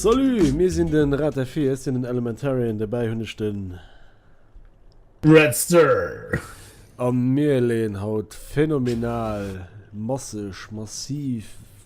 Salut, mir sinn den Rat der Fee, ech sinn den Elementarien, derbäi hunn ech den. Red Sir! An mir leeën haut phänomenal, masseg, massiv,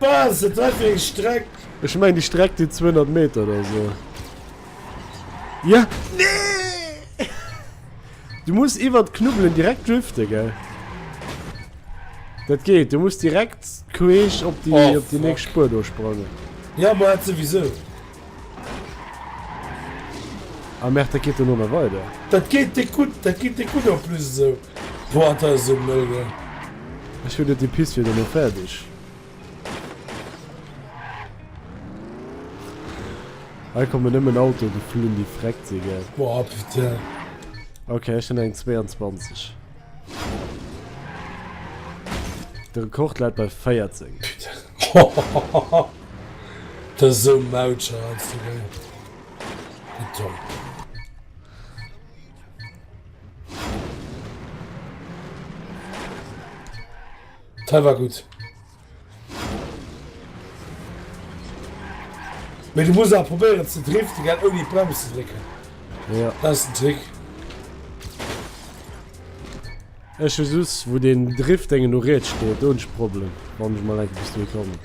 Bas et war fir eng Streck. Ech mengen déi Streck deet 200 Meter oder esou. Yeah! Nee! Du muss iwwer d'Knubbelen direkt driften, gell? Dat geet, du muss direkt queesch op déi, op déi nächst Spur do sprangen. Ja, ma et souwisou. Ah merde, dat geet dono nach weider. Dat geet déck gutt, dat geet déck gutt en plus esou droit aus esou en Ougen. Ech hunn net déi Piste fir dono fäerdeg. Hei kommen nëmmen Autoe geflunn, déi freckt si, gell. Boah putain. Okay, ech hunn eng 22. De Rekord läit bei 14. Putain. Dat ass esou Mautscher als de wéi Beton. Teil war gut. Mit du muss probieren ze drift die gaat die Bremse ze drecken. Ja. Das ist ein Trick. Ech hu just wou den Drift dengen no riets steet, do hunn ech e Problem, wann ech mol enke bis dohi kommen.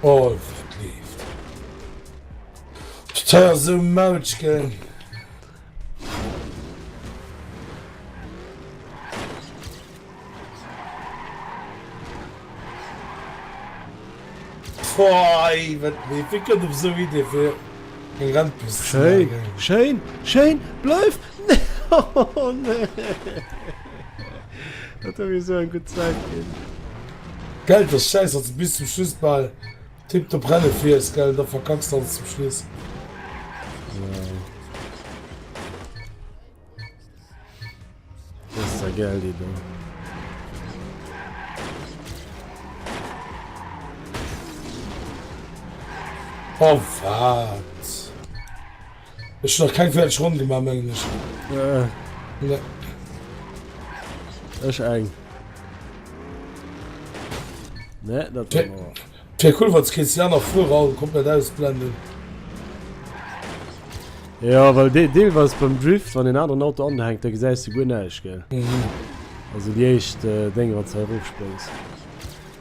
Oh, dat leeft. Ech zeier esou Mautschken. Poi, wat wie wie kënnt op sou Idee fir eng Rennpiste ze Schéin, maachen? schéin, schéin, bleif! Oh nee! Dat huet mir esou eng gutt Zäit ginn. Geil, dass Schäiss als bis zum Schluss bal Tiptop Rennen fir iech, gell? Da verkackst de alles zum Schluss. Das ist ja geil, die Ding. Oh, fuck. Ech hun nach keng fäerdeg Ronn gemaach, mengen ech. Nee. Ech eng. Nee, dat war awer. Et wär cool, wanns kees déi aner Fuerer all komplett ausblenden. Jo, well dee deelweis beim Drift, wann en aneren Auto anhänkt, da gesäis de guer näischt, gell? Also déi éischt Dénger, wanns de erofspréngs.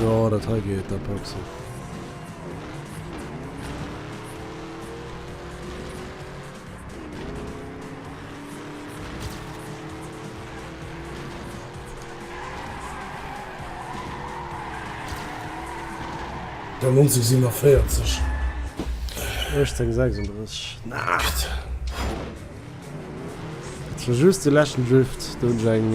Jo dat hei geet der Pepsi. Dann 1947. 1836. Naacht! Just de leschten Drift, do hunn ech eng.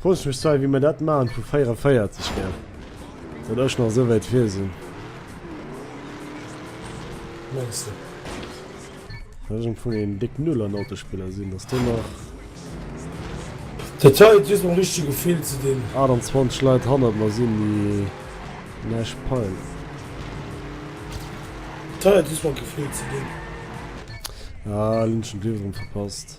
Frooss ech mech zwar wéi mer dat maachen vu 44 her, datt ech nach esou wäit vir sinn. Mengs de? Datt ech am Fong een déck Null an Autospiller sinn, datt do nach. Dat hei just mam richtege Gefill ze dinn. 28 Leit hannert mer sinn déi näischt peilen. Dat hei hat just mam Gefill ze dinn. Ah, elo hunn ech den Drive erëm verpasst.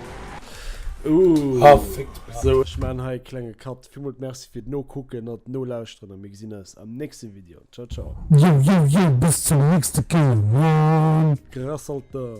Sou ech maan hei e klenge Cut. Villmools Merci fir d'Nokucken an d'Nolauschteren a mir gesinn eis am nächste Video. Ciao ciao. Yo yo yo bis zum nächste Kéier Mann. Grass Alter.